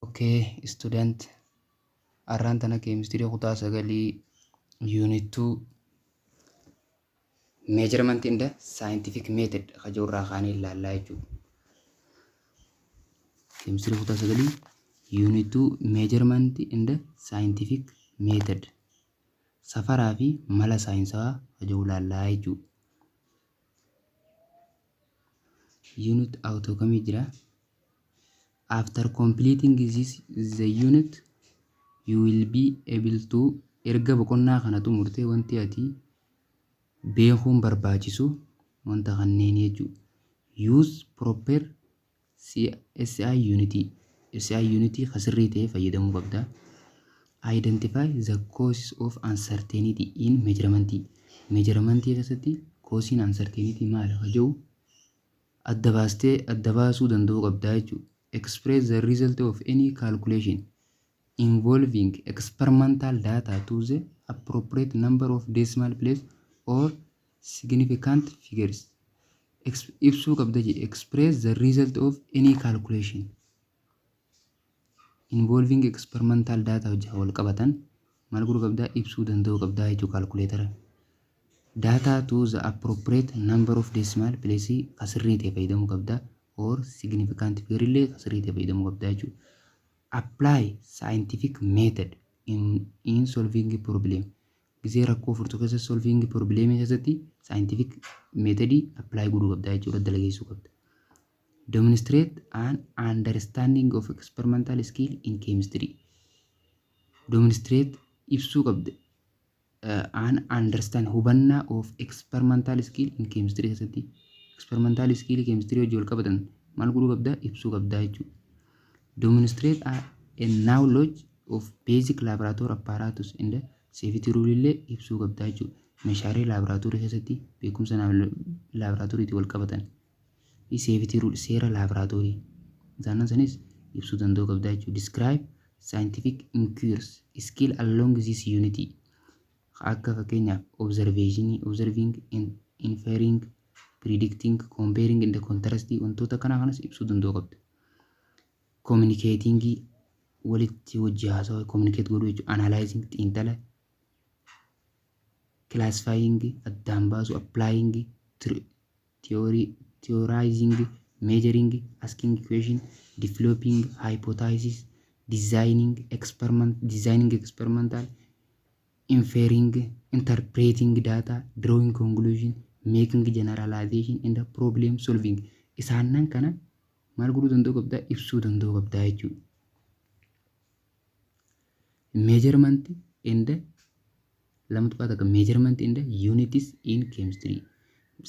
Ok student arraan tana chemistry kutaa sagalii unit 2 measurement in the scientific method ka jiru irraa kaanee ilaallaa jechuudha. Chemistry kutaa sagalii unit 2 measurement in the scientific method safaraa fi mala saayinsawaa ka jiru ilaallaa jechuudha. unit auto kami jira after completing this the unit you will be able to erga boqonnaa kana xumurtee wanti ati beekuun barbaachisu wanta kanneen jechuudha use proper SI yuunitii SI yuunitii ka sirrii ta'e fayyadamuu qabda. Identify the causes of uncertainty in measurement. Measurement keessatti koosiin uncertainty maal akka jiru adda baastee adda baasuu danda'uu qabda jechuudha. Express the result of any calculation. involving experimental data to the appropriate number of decimal place or significant figures Ex- ibsuu qabda jedhe express the result of any calculation involving experimental data wajjin wal qabatan maal godhuu qabdaa ibsuu danda'uu qabdaa jechuu kaalkuleetara data to the appropriate number of decimal place ka sirrii ta'e fayyadamuu qabdaa or significant figure illee ka sirrii ta'e fayyadamuu qabdaa jechuudha Apply scientific method in in solving problem Gizee rakkoo furtu keessatti solving problem keessatti scientific method apply godhuu qabda jechuudha dalageessuu qabda. Demonstrate an understanding of experimental skill in chemistry. Demonstrate ibsuu qabda. an understand hubannaa of experimental skill in chemistry keessatti experimental skill chemistry wajjin wal qabatan maal godhuu qabda ibsuu qabda jechuudha. Demonstrate a, a knowledge of basic laboratory apparatus and safety rule illee ibsuu qabda jechuudha. Meeshaalee laaboraatoorii keessatti beekumsa laaboraatooriitiin wal qabatan fi safety rule seera laabraatoorii isaannan sanis ibsuu danda'uu qabdaa jechuudha. Describe scientific inquiries skill along this unity akka fakkeenyaaf observation, observing, in- inferring, predicting, comparing and contrasting wantoota kanaa kanas ibsuu danda'uu qabda. Communicating walitti hojii haasawa communicate godhuu jechuudha. Analyzing xiinxala classifying addaan baasuu applying tr- theory, theorizing, measuring, asking question, developing hypothesis, designing experiment, designing experimental, inferring, interpreting data, drawing conclusion, making generalization and problem solving. Isaannan kana maal godhuu danda'uu qabdaa? Ibsuu danda'uu qabdaa jechuudha. Measurement and 2.1 Measurement and units in chemistry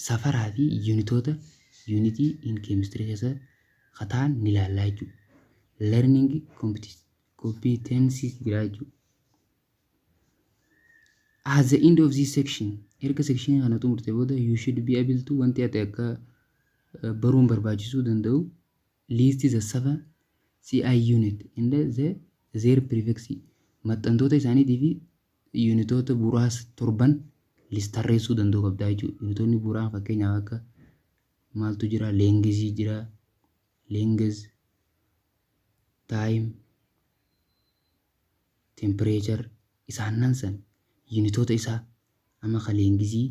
safaraa fi yuunitoota yuunitii in chemistry keessa kataan ni laallaa jechuudha. Learning competi- competencies jira jechuudha. At the end of this section, erga section kana xumurte booda you should be able to wanti ati akka eh, baruun barbaachisuu danda'u List the seven CI unit and the their prefix maxxantoota isaaniitii fi yuunitoota bu'uuraas torban list tarreessuu danda'uu qabdaa jechuudha. Yuunitoonni bu'uuraa fakkeenyaaf akka maaltu jira leengizii jira leengiz taayim tempireechar isaannan san yuunitoota isaa amma ka leengizii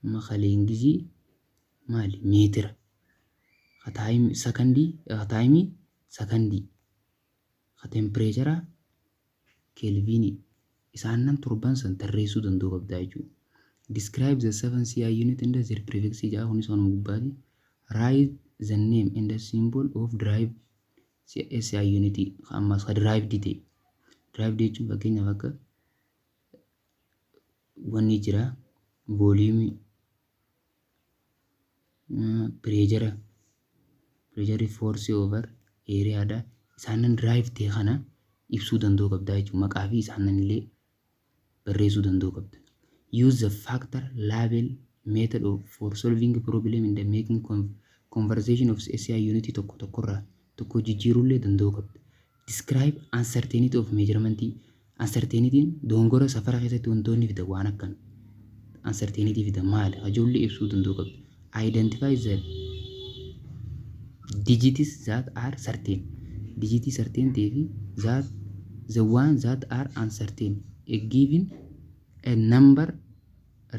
amma ka leengizii maali meetira ka taayimii sakandii ka taayimii sakandii ka tempireechara keelviinii isaannan torban san tarreessuu danda'uu qabdaa jechuudha. Describe the 7 CI unit and their prefix ja'a kunis kanuma gubbaati. Write the name and the symbol of drive SI unit ka ammaas ka drive dite. Drive jechuun fakkeenyaaf akka wanni jira vooliimii pireejara pireejarri foorsii oovar eeriyaadha isaanan diraayiv ta'e kana ibsuu danda'uu qabda jechuudha maqaa fi isaanan illee barreessuu danda'uu qabda. Use the factor label method of for solving problem in the making con- conversation of SI unit tokko tokkorraa tokko jijjiiruu illee danda'uu qabda. Describe uncertainty of measurement Uncertainity'n dogongora safara keessatti wantoonni fidan waan akkan uncertainity fidan maali hajoolli ibsuu danda'u qabdi. Identify the digits that are certain digitii certain ta'ee fi that the one that are uncertain a given a number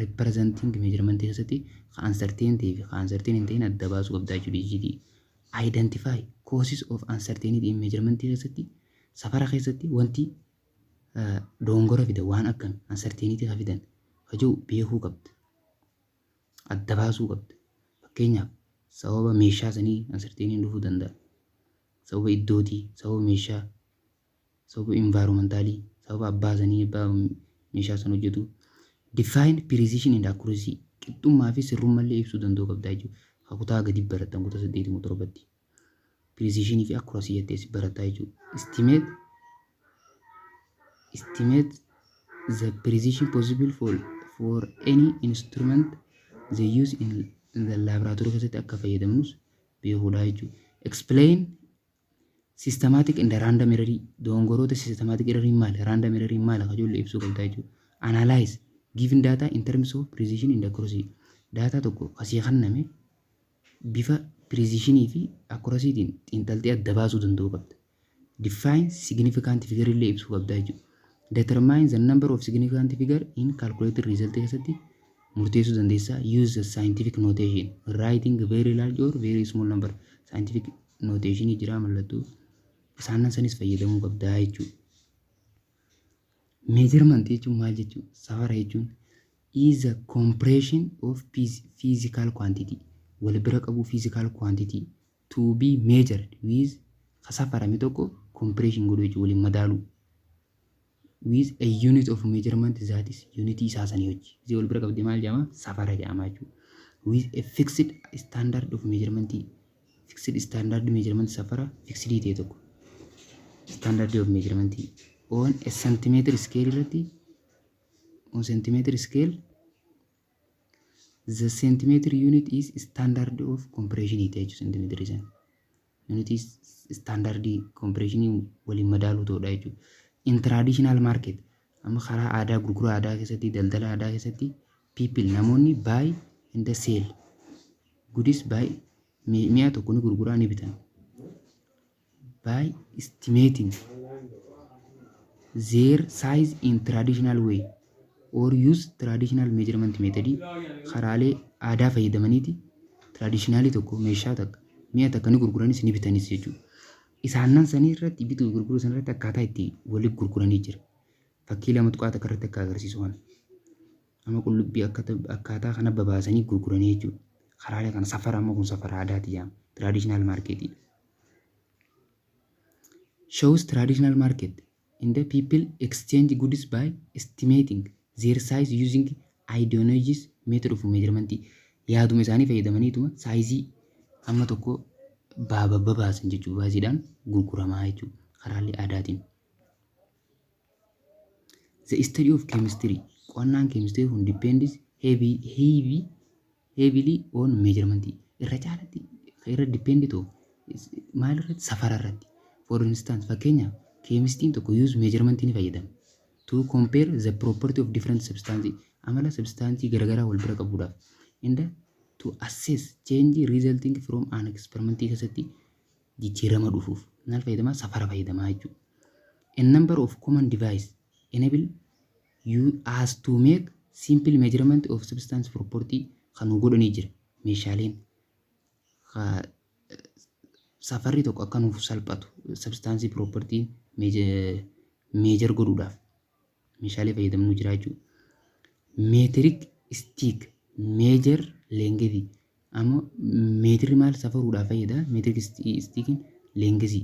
representing measurement keessatti ka uncertain ta'ee fi ka uncertain hin ta'in adda baasuu qabda jechuudha digitii. Identify causes of uncertainty in measurement keessatti safara keessatti wanti dogongora fida waan akkami uncertainty ka fidan ka jiru beekuu qabda. Adda baasuu qabda. Fakkeenyaaf sababa meeshaa sanii uncertainty dhufuu danda'a. Sababa iddootii, sababa meeshaa sababa environmentally sababa abbaa sanii abbaa meeshaa san hojjetu define precision and accuracy qixxummaa fi sirrummallee ibsuu danda'uu qabdaa jechuudha. Ka kutaa gadi barattan kutaa saddeeti moo torbatti. Precision fi accuracy jettee si barattaa jechuudha. Estimate estimate the precision possible for for any instrument they use in, in the laboratory keessatti akka fayyadamnus beekuudha jechuudha. Explain Systematic and random error dogongoroota systematic error maal random error maal akka ijoollee ibsuu qabdaa jechuudha. Analyze given data in terms of precision and accuracy data tokko kasii kanname bifa precision fi accuracy tiin xiinxaltee adda baasuu danda'uu qabda. Define significant figure illee ibsuu qabdaa jechuudha. Determine the number of significant figure in calculated result keessatti murteessuu dandeessaa. Use the scientific notation writing very large or very small number scientific nooteeshinii jiraa mallattoo isaannan sanis fayyadamuu qabdaa jechuudha. Measurement jechuun maal jechuudha? Safara jechuun is a compression of phys- physical quantity wal bira qabuu physical quantity to be measured with ka safarame tokko compression godhuu jechuudha waliin madaaluu. with a unit of measurement that is unit isaa sanii hojii isii wal bira qabdee maal jedhama safara jedhama jechuudha with a fixed standard of measurement fixed standard measurement safara fixed ta'e tokko standard of measurement on a centimeter scale irratti on centimeter scale the centimeter unit is standard of compression ite jechuudha centimeter isaan Yuunitii istaandardii kompireeshinii waliin madaaluu ta'uudha jechuudha. In traditional market amma karaa aadaa gurgura aadaa keessatti daldala aadaa keessatti people namoonni buy and sell goodies buy mi'a tokko ni gurguraa ni bitan. By estimating their size in traditional way or use traditional measurement method karaalee aadaa fayyadamaniiti traditionalii tokko meeshaa takka mi'a takka ni gurguranis ni bitanis jechuudha. Isaannan sanii irratti bituu fi gurguruu sana irratti akkaataa itti waliif gurguranii jira. Fakkii lama tuqaa takka irratti akka agarsiisu kana. Amma qullubbii akkata- akkaataa kana babaasanii gurguranii jechuudha. Karaalee kana safara amma kun safara aadaati jedhama. Traditional market. Shows traditional market. In the people exchange goods by estimating their size using Idonoghys method of measurement yaaduma isaanii fayyadamaniituma saayizii amma tokko baaba babaasan jechuudha baasiidhaan gurguramaa jechuudha karaalee aadaatiin. The study of chemistry qo'annaan chemistry kun depends heavy heavy heavily on measurement irra caalatti irra depend to maal irratti safara irratti for instance fakkeenyaaf keemistiin tokko use measurement ni fayyadama to compare the property of different substance amala substance garagaraa wal bira qabuudhaaf and to assess change resulting from an experiment keessatti jijjiirama dhufuuf maal fayyadamaa safara fayyadamaa jechuudha. A number of common device enable you as to make simple measurement of substance property kan nu godhanii jira meeshaaleen ka safarri tokko akka nuuf salphatu substance property meejar godhuudhaaf meeshaalee fayyadamnu jira jechuudha. Meetirik stick meejar leengetii ammoo meetirri maal safaruudhaaf fayyada meetirik stiikiin leengesii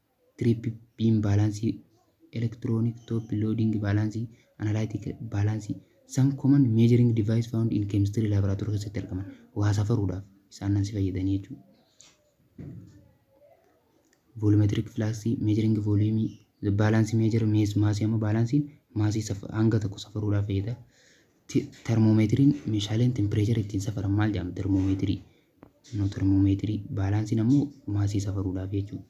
Trip beam baalaansii, electronic top loading baalaansii, analytic baalaansii, some common measuring device found in chemistry laboratory keessatti argaman waa safaruudhaaf isaan nan si fayyadanii jechuudha. Volumetric flux measuring volume the balance measure mass mass amma baalaansiin maasii hanga tokko safaruudhaaf fayyada. Ti- Termoomeetiriin meeshaaleen tempireechara ittiin safaran maal jedhamu? Termoomeetirii. No termoomeetirii. Baalaansiin ammoo maasii safaruudhaaf jechuudha.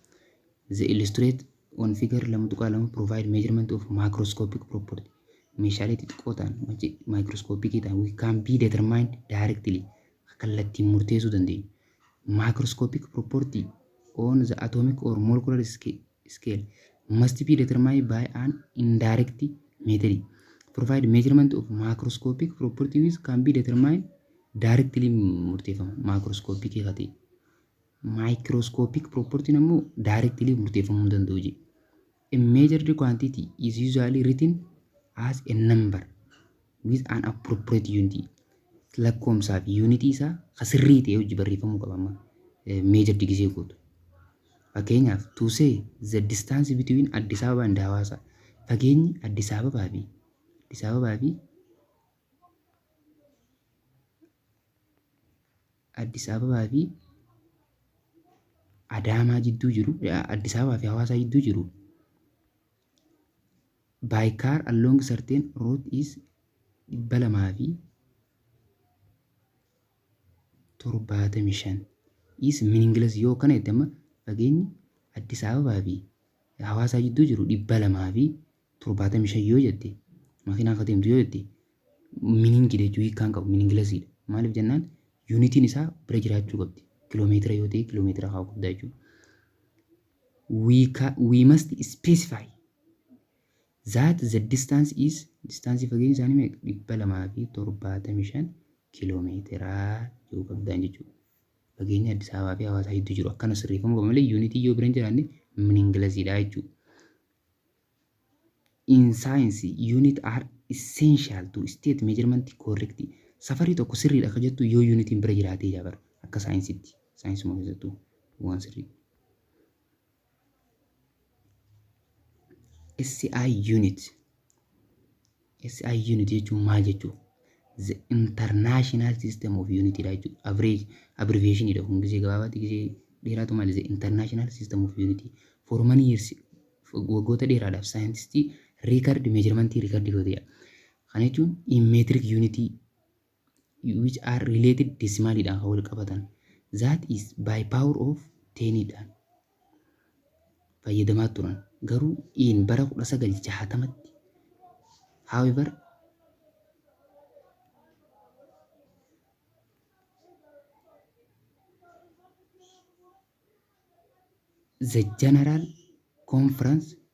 The illustrate on figure 2.2 provide measurement of microscopic property. Meeshaalee xixiqqoo ta'an wanti maayikirooskoopikii ta'an we can be determined directly kallattiin murteessuu dandeenya. Microscopic property on the atomic or molecular scale must be determined by an indirect method. Provide measurement of microscopic property which can be determined directly murteeffama microscopic haa ta'e. Microscopic property ammoo directly murteeffamuu hin danda'u jedhe. A measured quantity is usually written as a number with an appropriate unit. Lakkoomsaa fi yuunitii isaa ka sirrii ta'e hojii barreeffamuu qaba amma measured gisee gootu. Fakkeenyaaf to say the distance between Addis Ababa and Hawaasa fageenyi Addis Ababaa fi Addis Ababaa fi Addis Ababaa fi Adaamaa jidduu jiru, Addis Ababaa fi Hawaasaa jidduu jiru by car along certain route is 275 is meaningless yoo kana jette amma fageenyi Addis Ababaa fi Hawaasaa jidduu jiru 200 fi torbaatamii shan yoo jette makiinaa akka deemtu yoo jette miniingi jechuun hiikkaan qabu miniingilasiidha. Maaliif jennaan yuunitiin isaa bira jiraachuu qabdi. Kiloomeetira yoo ta'e kiloomeetira haa qabdaa jechuudha. We, ca, we must specify that the distance is distance fageenyi isaanii meeqa dhibba lamaa fi torbaatamii shan kiloomeetira yoo qabdaan jechuudha. Fageenya Addis Ababaa fi Hawaasaa hedduu jiru. Akkana sirreeffamuu qaba malee yuunitii yoo bira hin jiraanne miniingilasiidha jechuudha. in science unit are essential to state measurement correctly safarii tokko sirriidha akka jettu yoo yuunitiin bira jiraatee jaa bara akka saayinsitti saayinsuma keessattuu waan sirrii SI unit SI unit jechuun maal jechuu? The international system of unit dha jechuu. Average abbreviation dha kun gisee gabaabaatti gisee dheeraatu malee the international system of unit for many years waggoota dheeraadhaaf saayintistii record measurement record godheedha. Kana jechuun in metric unit which are related decimal dhaan kan wal qabatan that is by power of 10 dhaan fayyadamaa turan garuu in bara 1960tti however the general conference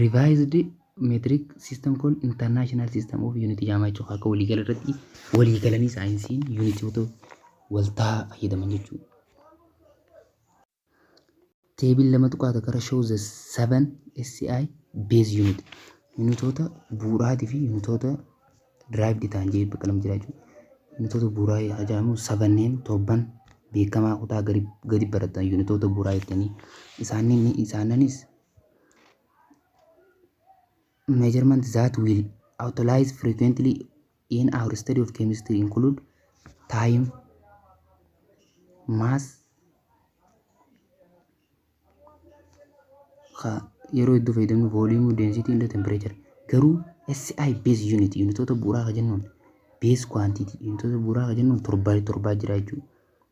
Revised Metric System Kun International System of Unit Jaamaa jechuudha. Akka waliigala irratti waliigalanii saayinsiin yuunitoota waltaa fayyadaman jechuudha. Teebil lama tuqaa takka irra show the seven SI base unit. Yuunitoota bu'uuraatii fi yuunitoota derived ta'an jee bakka lama jira jechuudha. Yuunitoota bu'uuraa yaa jedhamu sabanneen torban beekamaa kutaa gadi barattan yuunitoota bu'uuraa jettanii isaannis measurements that will utilize frequently in our study of chemistry include time, mass, ka- yeroo hedduu fayyadamnu volume, density, and temperature. Garuu SI base unit unitoota bu'uuraa ka jennuun base quantity unitoota bu'uuraa ka jennuun torbaa torbaa jira jechuudha.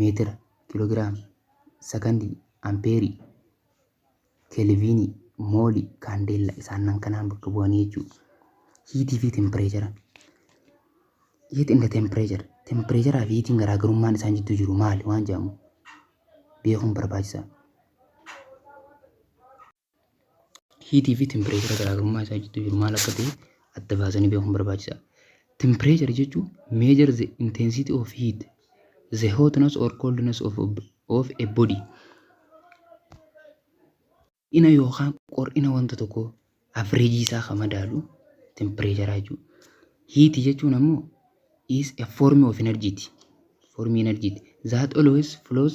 meetira, kiloogiraama, sakandii, ampeerii, kelviinii, moolii, kaandeella isaannan kanaan bakka bu'anii jechuudha. Hiitii fi tempireechara. Heat and temperature. Tempireecharaa fi hiitiin garaagarummaan isaan jidduu jiru maali waan jedhamu beekuun barbaachisaadha. hiitii fi tempireechara garaagarummaa isaa jidduu jiru maal akka ta'e adda baasanii beekuun barbaachisaadha. Tempireechara jechuun measure the intensity of heat, the hotness or coldness of, of a body. Ina yookaan qor'ina wanta tokko avreejii isaa kan madaalu tempireechara jechuudha. Hiitii jechuun ammoo is a form of energy ti. Formii energy ti. That always flows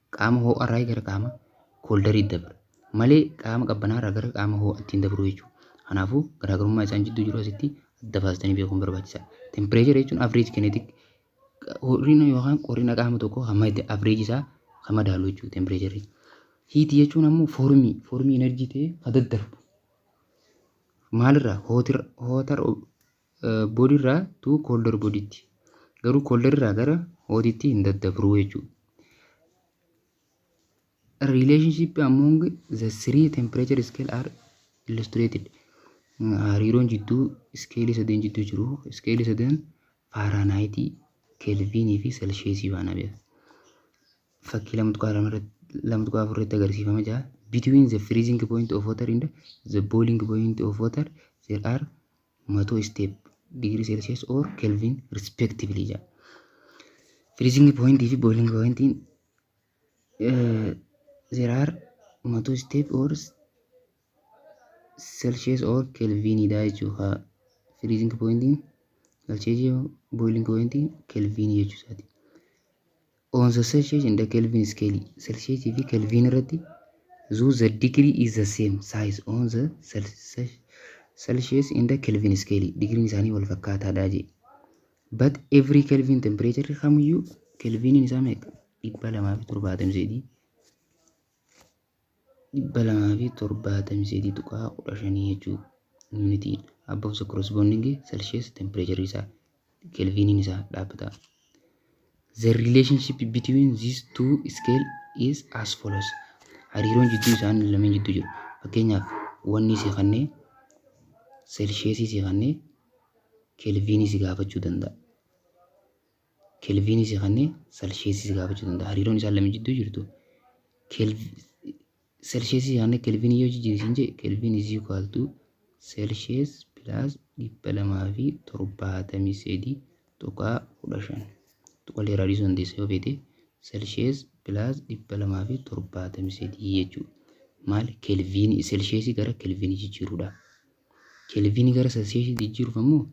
Qaama hoo'arraa gara qaama kooldarii dabra. Malee qaama qabbanaarraa gara qaama hoo'atti hin dabruu jechuudha. Kanaafuu garaagarummaa isaan jidduu jiru asitti adda baastanii beekuun barbaachisaadha. Tempireechara jechuun average kinetic ho'ina yookaan qorrina qaama tokkoo hamma itti average isaa kan madaalu jechuudha tempireecharri. Hiitii jechuun ammoo foormii foormii enerjii ta'ee kan daddarbu. Maalirraa hootir hootar body irraa to colder body tti. Garuu colder irraa gara hot tti hin daddabru jechuudha. Relationship among the three temperature scale are illustrated. Hariiroon jidduu iskeelii sadeen jidduu jiru. Iskeelii sadeen Faaraanaayitii, Kelviinii fi Selsheesii faana beeku. Fakkii lama tuqaa lama irratti lama tuqaa afur irratti agarsiifama jira. Between the freezing point of water and the boiling point of water there are 100 step degree celsius or kelvin respectively jedha freezing point fi boiling point in uh, there are 100 step or celsius or kelvin dha jechuudha freezing point in celsius boiling point in kelvin jechuusaati On the Celsius and the Kelvin scale, Celsius fi Kelvin irratti zoo the degree is the same size on the Celsius and the Kelvin scale. Digriin isaanii wal fakkaataadha jee. But every Kelvin temperature kamiyyuu Kelviniin isaa meeqa? dhibba lamaa fi torbaatamii sadii. 273.15 jechuu yuunitii above the corresponding celsius temperature isaa kelviiniin isaa dhaabbataa the relationship between these two scale is as follows hariiroon jidduu isaan lameen jidduu jiru fakkeenyaaf wanni si kannee seelsheesii si kannee kelviinii si gaafachuu danda'a Kelviinii si kennee Selsheesii si gaafachuu danda'a. Hariiroon isaan lameen jidduu jirtu Selsheesii si kennee Kelviinii yoo jijjiiri siin jee Kelviin is equal to Selshees plus dhibba lamaa fi torbaatamii sadii tuqaa kudha shan. Tuqalee irraa dhiisuu dandeessa yoo feete Selshees plus dhibba lamaa fi torbaatamii sadii jechuudha. Maal Kelviinii Selsheesii gara Kelviinii jijjiiruudha. Kelviinii gara Selsheesii jijjiiruuf ammoo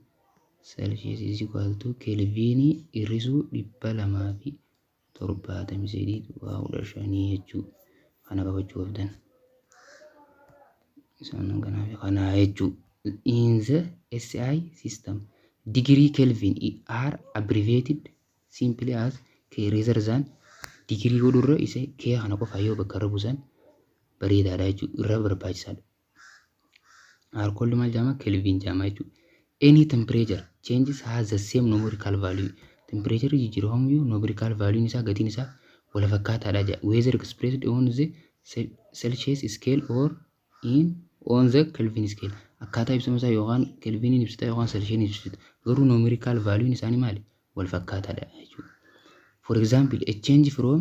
Celsius is equal to kelviinii hir'isuu 273.15 jechuu kana qabachuu qabdan. Isaan kanaaf kanaa jechuu. In the SI system, degree Kelvin are abbreviated simply as K rather than degree godhurra isa K kana qofa yoo bakka irra buusan bareedaadha jechuudha. Irra barbaachisaadha. R cold maal jaama kelvin jaama jechuudha. Any temperature changes has the same numerical value. Temperature jijjiiramu yoo numerical value isaa gatiin isaa wal fakkaataadha jedha. Whether expressed on the Celsius scale or in on the Kelvin scale. Akkaataa ibsama isaa yookaan Kelviniin ibsita yookaan Celsius ibsita. Garuu numerical value isaanii maali? Wal fakkaataadha jechuudha. For example, a change from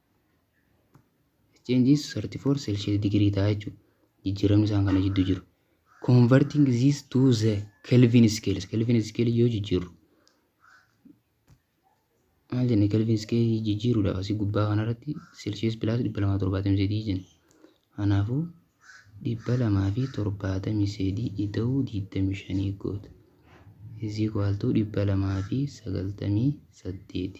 Change is 34 Celsius degree ta'a jechuudha. Jijjiiramni isaan kana jidduu jiru. Converting this to the Kelvin scales. Kelvin scale yoo jijjiirru. Maal jenne Kelvin scale jijjiiruudhaaf asii gubbaa kanarratti Celsius plus 273 jenne. Kanaafuu 273 ida'uu 25 goota. Is equal to 298.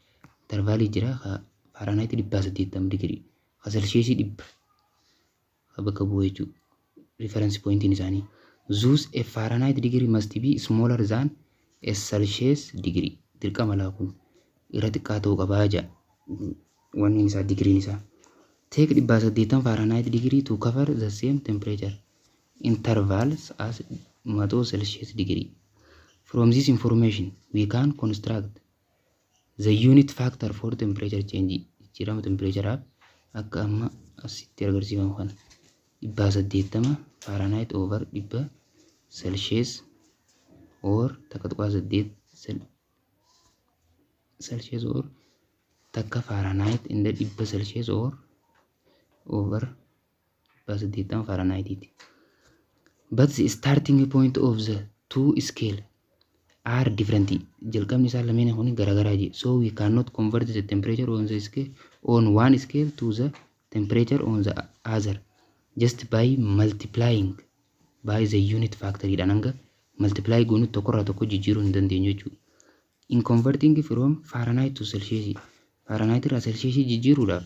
intervaalii jira ka faaraanaayitii dhibbaa saddeettama digirii ka selsheesii dhibba ka bakka bu'u jechuudha riferensi pooyintiin isaanii zuus e faaraanaayitii digirii must be smaller than e selshees digirii dirqama laa kun irra xiqqaa ta'uu qabaa jaa wanni isaa digiriin isaa teek dhibbaa saddeettama faaraanaayitii digirii to cover the same temperature intervals as maxoo selshees digirii from this information we can construct the unit factor for temperature change jijjiirama tempereecharaaf akka amma asitti agarsiifamu kana dhibbaa saddeettama faaraanaayit over dhibba selshees or takka tuqaa saddeet selshees or takka faaraanaayit inda dhibba selshees or over dhibbaa saddeettama faaranaayitiiti. But the starting point of the two scale are different. Jalqabni isaan lameen kun garaagaraa jee. So we cannot convert the temperature on the scale on one scale to the temperature on the other just by multiplying by the unit factor dhaan hanga multiply goonutti tokkorraa tokko jijjiiruu hin dandeenyu jechuudha. In converting from Fahrenheit to Celsius Fahrenheit irraa Celsius jijjiiruudhaaf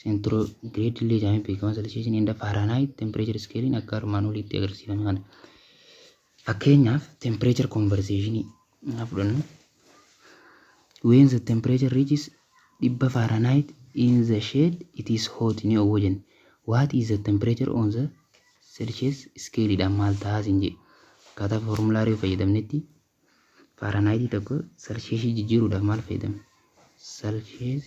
Centigrade illee jedhamee beekama. Celsius and Fahrenheit temperature scale akka armaan oliitti agarsiifame kana. Fakkeenyaaf temperature conversation haa fudhannu. When the temperature reaches dhibba Fahrenheit in the shade it is hot ni oowwa jenne. What is the temperature on the Celsius scale dha maal tahaa sin jedhe. Akkaataa formulaarii fayyadamnetti Fahrenheit tokko Celsius jijjiiruudhaaf maal fayyadamne? Celsius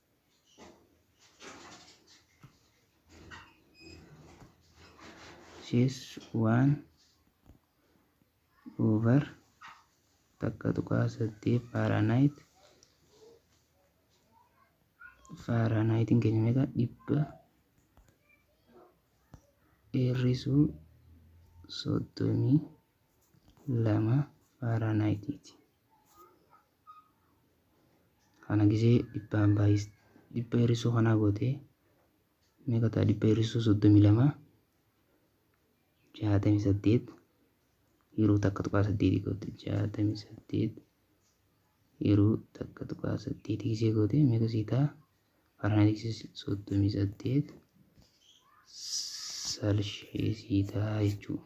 sis waan over takka tuqaa saddeet faaraanaayit faaraanaayitiin keenya meeqa dhibba dheerrisuu soddomii lama faaraanaayitiiti. kana gisee dhibbaan baay'is dhibba hir'isuu kanaa gootee meeqa ta'a dhibba hir'isuu soddomii lama jaatamii saddeet yeroo takka tuqaa saddeetii goote jaatamii saddeet yeroo takka tuqaa saddeetii gisee goote meeqa sii ta'a faranaayitii soddomii saddeet salshee sii ta'a jechuudha.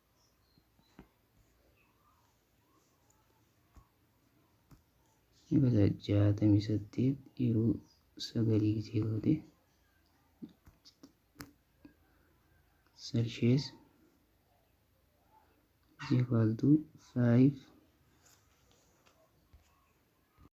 Ibada jaatamii saddeet yeroo sagalii gisee goote Celsius is equal to 5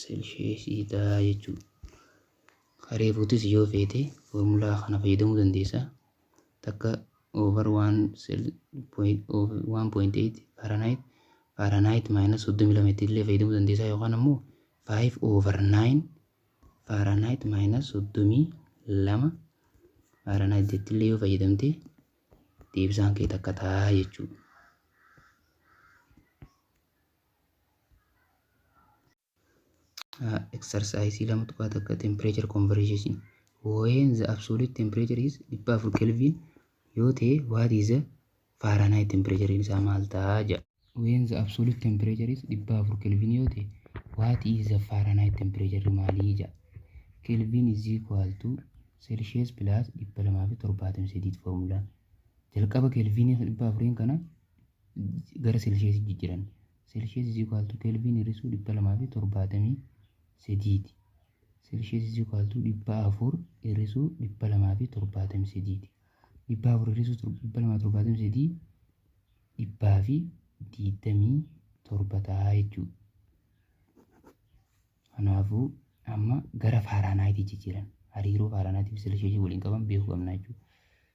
Seelsheesii dha jechuudha. Ka reefuutis yoo feete foormulaa kana fayyadamuu dandeessa. Takka over 1.8 Fahrenheit Fahrenheit minus 32 itti illee fayyadamuu dandeessa yookaan ammoo 5 over 9 Fahrenheit minus 32 Fahrenheit itti illee yoo fayyadamte deebisaan kee takka ta'a jechuudha. Exercise 2.1 Temperature Conversion When the absolute temperature is 400 Kelvin yoo ta'e what is the Fahrenheit temperature isaa maal ta'a jedha. When the absolute temperature is 400 Kelvin yoo ta'e what is the Fahrenheit temperature maalii jedha. Kelvin is equal to Celsius plus 273 formula. Jalqaba Kelvin 400 kana gara Seelsheesii jijjiranne. Seelshees is equal to Kelvin hir'isuu 273 ti. Seelshees is equal to 400 hir'isuu 273 ti. 400 hir'isuu 273 dhibbaa fi digdamii torba ta'a jechuudha. Kanaafuu amma gara faaraanaayitii jijjiiran hariiroo faaraanaayitii fi seelsheesii waliin qaban beekuu qabna jechuudha.